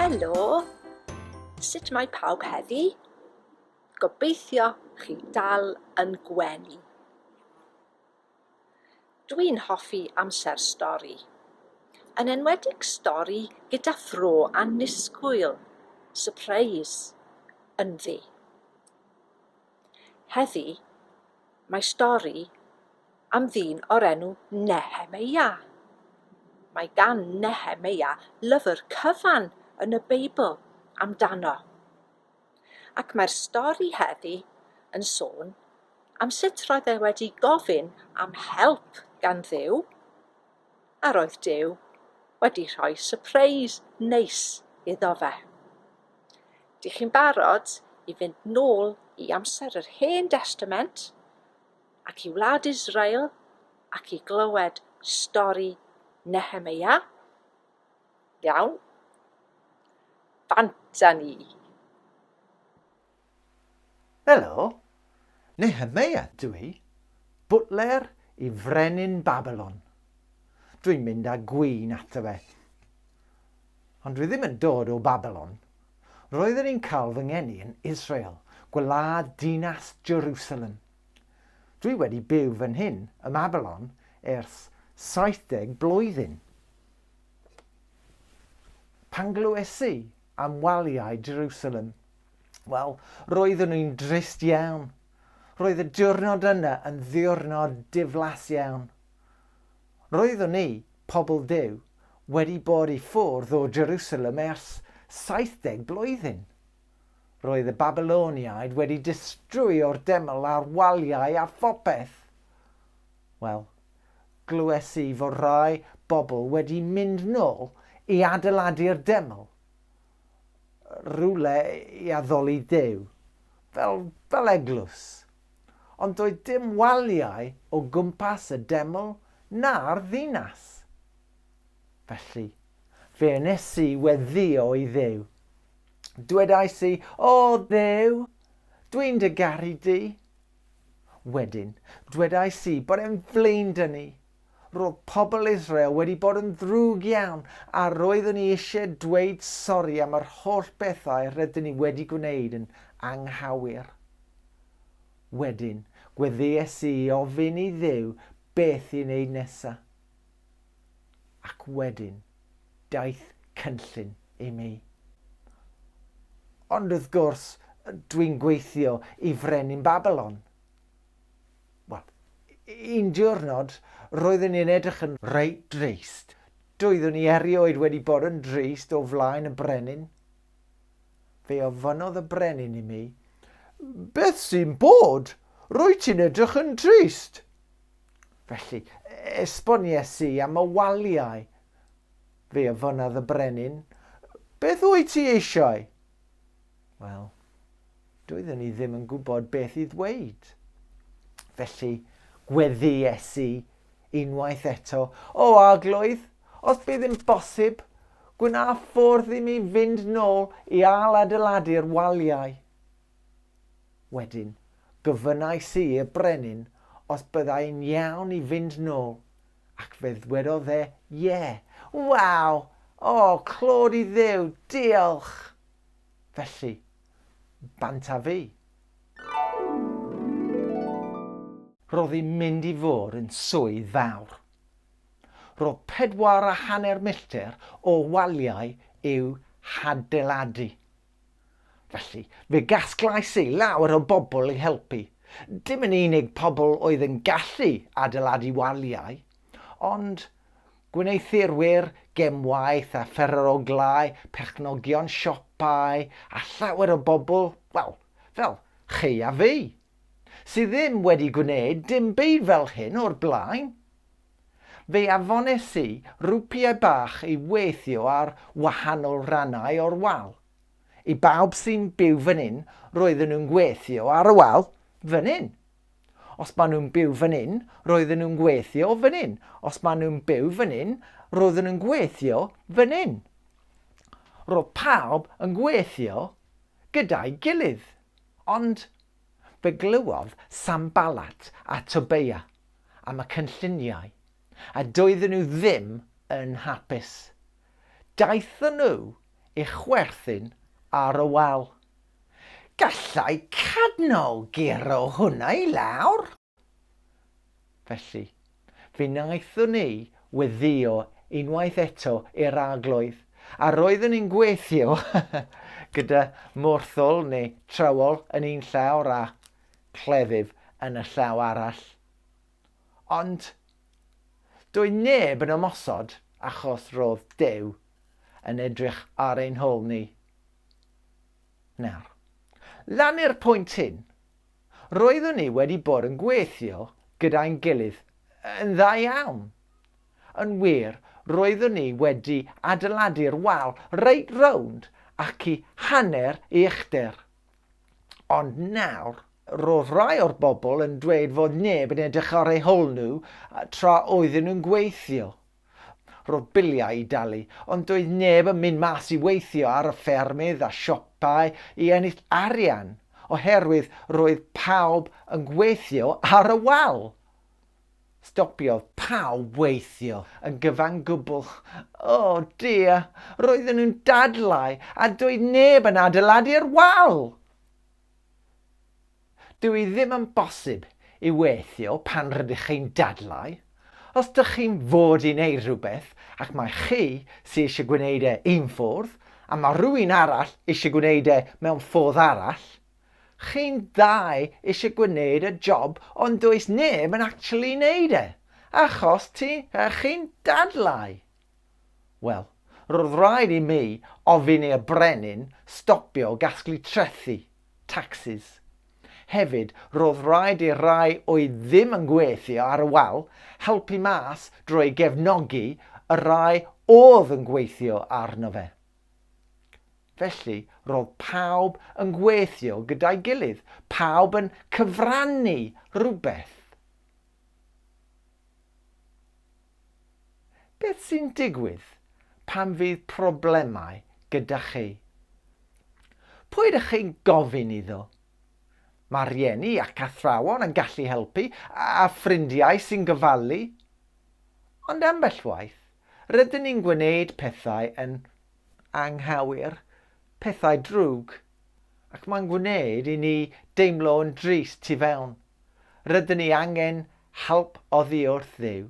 Helo! Sut mae pawb heddi? Gobeithio chi dal yn gwenu. Dwi'n hoffi amser stori. Yn enwedig stori gyda thro annisgwyl, surprise, ynddi. Heddi, mae stori am ddyn o'r enw Nehemeia. Mae gan Nehemeia lyfr cyfan yn y Beibl amdano. ac mae'r stori heddi yn sôn am sut roedd e wedi gofyn am help gan Dduw, a roedd Duw wedi rhoi sypreis neis iddo fe. Dych chi'n barod i fynd nôl i amser yr Hen Destament ac i wlad Israel ac i glywed stori Nehemia? Iawn. Bant â ni! Helo! Nehemia dw i, bwtler i frenin Babilon. Dw i'n mynd â gwin ato fe. Ond dw i ddim yn dod o Babilon. Roeddwn i'n cael fy ngeni yn Israel, gwlad dinas Jerusalem. Dw i wedi byw fan hyn ym Mabilon ers 70 blwyddyn. Pan glywes i am waliau Jerusalem, wel, roeddwn i'n drist iawn. Roedd y diwrnod yna yn ddiwrnod diflas iawn. Roeddwn i, pobl Duw, wedi bod i ffwrdd o Jerusalem ers 70 blwyddyn. Roedd y Babyloniaid wedi distrwyo'r deml a'r waliau a phopeth. Wel, glywes i fod rhai bobl wedi mynd nôl i adeiladu'r deml, rhywle i addoli Duw, fel, fel eglwys. Ond doedd dim waliau o gwmpas y deml na'r ddinas. Felly, fe wnes i weddïo i Dduw. Dwedais i, O Dduw, dwi'n dy garu di. Wedyn, dwedais i bod e'n flin dŷ ni. Roedd pobl Israel wedi bod yn ddrwg iawn a roeddwn i eisiau dweud sori am yr holl bethau rydyn ni wedi gwneud yn anghywir. Wedyn, gweddïais i i ofyn i Dduw beth i wneud nesaf. Ac wedyn, daeth cynllun i mi. Ond wrth gwrs, dwi'n gweithio i frenin Babilon. Wel, un diwrnod, roeddwn i'n edrych yn reit drist. Doeddwn i erioed wedi bod yn drist o flaen y brenin. Fe ofynodd y brenin i mi, Beth sy'n bod? Rwy ti'n edrych yn drist. Felly, esbonies i am y waliau. Fe ofynnodd y brenin, Beth wyt ti eisiau? Wel, doeddwn i ddim yn gwybod beth i ddweud. Felly, gweddies i unwaith eto, O arglwydd, os bydd yn bosib, gwna ffordd i mi fynd nôl i ail adeiladu'r waliau. Wedyn, gofynnais i y brenin os byddai'n iawn i fynd nôl, ac fe ddwedodd e, Ie! Waw! O, clod i Dduw! Diolch! Felly, bant a fi. Roedd hi'n mynd i fod yn swydd fawr. Roedd pedwar a hanner milltir o waliau i'w hadeiladu. Felly, fe gasglais i lawer o bobl i helpu, dim yn unig pobl oedd yn gallu adeiladu waliau, ond gwneuthurwyr gemwaith a phereroglau, perchnogion siopau a llawer o bobl, wel, fel chi a fi, sydd ddim wedi gwneud dim byd fel hyn o'r blaen. Fe afones i rwpiau bach i weithio ar wahanol rannau o'r wal. I bawb sy'n byw fan hyn, roedden nhw'n gweithio ar y wal fan hyn. Os maen nhw'n byw fan hyn, roedden nhw'n gweithio fan hyn. Os maen nhw'n byw fan hyn, roedden nhw'n gweithio fan hyn. Roedd pawb yn gweithio gyda'i gilydd. Ond Fe glywodd Sanballat a Tobeia am y cynlluniau, a doedden nhw ddim yn hapus. Daethon nhw i chwerthin ar y wal. Gallai cadno guro hwnna i lawr! Felly, fe wnaethon ni weddïo unwaith eto i'r Arglwydd, a roeddwn i'n gweithio gyda morthwl neu trywol yn un llawr a chleddyf yn y llaw arall. Ond doedd neb yn ymosod achos roedd Duw yn edrych ar ein hôl ni. Nawr, lan i'r pwynt hyn, Roeddwn ni wedi bod yn gweithio gyda'n gilydd yn dda iawn. Yn wir, roeddwn ni wedi adeiladu'r wal reit rownd ac i hanner ei uchder. Ond nawr, roedd rhai o'r bobl yn dweud fod neb yn edrych ar eu hôl nhw tra oedden nhw'n gweithio. Roedd biliau i dalu, ond doedd neb yn mynd mas i weithio ar y ffermydd a siopau i ennill arian, oherwydd roedd pawb yn gweithio ar y wal! Stopiodd pawb weithio yn gyfan gwbl. O dear! Roedden nhw'n dadlau a doedd neb yn adeiladu'r wal! Dyw hi ddim yn bosib i weithio pan rydych chi'n dadlau. Os dych chi'n fod i wneud rhywbeth ac mai chi sy eisiau gwneud e un ffordd a mae rhywun arall eisiau gwneud e mewn ffordd arall, chi'n ddau eisiau gwneud y job ond does neb yn actually wneud e, achos ti, chi'n dadlau. Wel, roedd rhaid i mi ofyn i'r brenin stopio gasglu trethi, taxes. Hefyd, roedd rhaid i'r rhai oedd ddim yn gweithio ar y wal helpu mas drwy gefnogi y rhai oedd yn gweithio arno fe. Felly, roedd pawb yn gweithio gyda'i gilydd, pawb yn cyfrannu rhywbeth. Beth sy'n digwydd pan fydd problemau gyda chi? Pwy ydych chi'n gofyn iddo? Mae rhieni ac athrawon yn gallu helpu, a ffrindiau sy'n gofalu. Ond ambell waith, rydyn ni'n gwneud pethau yn anghywir, pethau drwg Ac mae'n gwneud i ni deimlo yn drist tu fewn. Rydyn ni angen help oddi wrth Dduw.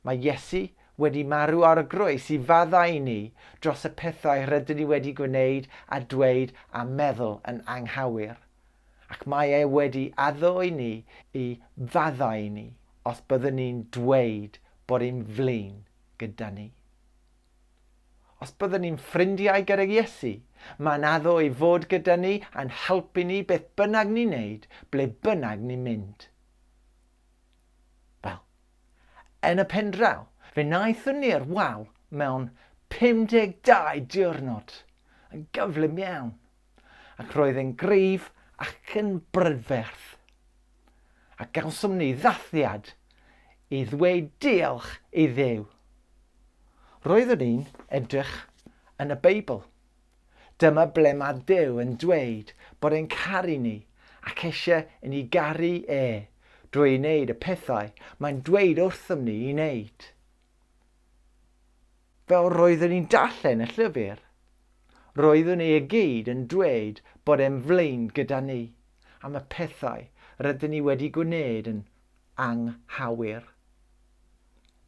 Mae Iesu wedi marw ar y groes i faddau i ni dros y pethau rydyn ni wedi gwneud a dweud a meddwl yn anghywir. Ac mae e wedi addo i ni i faddau i ni os byddwn ni'n dweud bod e'n flin gyda ni. Os byddwn ni'n ffrindiau gydag Iesu, mae'n addo ei fod gyda ni a'n helpu ni beth bynnag ni'n neud, ble bynnag ni'n mynd. Wel, yn y pen draw, fe wnaethon ni'r wal mewn 52 diwrnod, yn gyflym iawn. ac roedd e'n gryf ac yn brydferth. A gawsom ni ddathliad i ddweud diolch i Dduw. Roeddwn ni'n edrych yn y Beibl. Dyma ble mae Duw yn dweud bod e'n caru ni ac eisiau i ni garu e drwy wneud y pethau mae'n dweud wrthym ni i wneud. Fel roeddwn i'n darllen y llyfr, roeddwn i i gyd yn dweud bod e'n flaen gyda ni am y pethau rydyn ni wedi gwneud yn anghywir.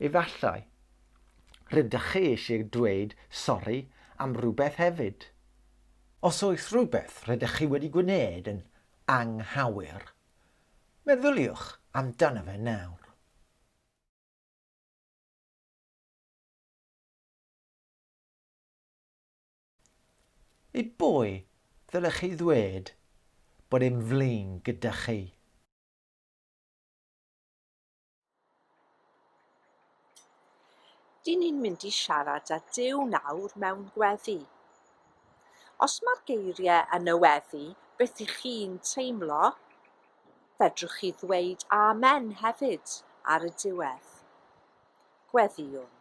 Efallai, rydych chi eisiau dweud sori am rywbeth hefyd. Os oes rhywbeth rydych chi wedi gwneud yn anghywir, meddyliwch amdano fe nawr. I bwy ddylech chi ddweud bod e'n flin gyda chi? Dyn ni'n mynd i siarad â Duw nawr mewn gweddi. Os mae'r geiriau yn y weddi beth i chi'n teimlo, fedrwch chi ddweud 'Amen' hefyd ar y diwedd. gweddïwn.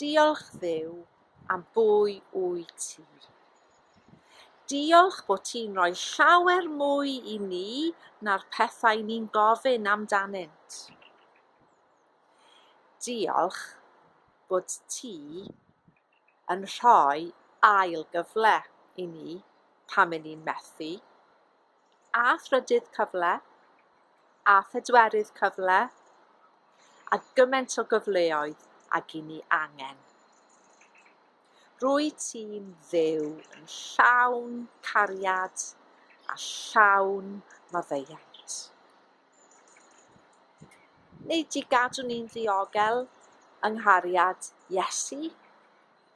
Diolch dduw am bwy wyt ti. Diolch bod ti'n rhoi llawer mwy i ni na'r pethau ni'n gofyn amdanynt. Diolch bod ti yn rhoi ail gyfle i ni pan 'yn ni'n methu. a thrydydd cyfle, a phedwerydd cyfle, a gymaint o gyfleoedd ag i ni angen. Rwy ti'n fyw yn llawn cariad a llawn maddeuant. Neu di gadw ni'n ddiogel yng nghariad Iesu.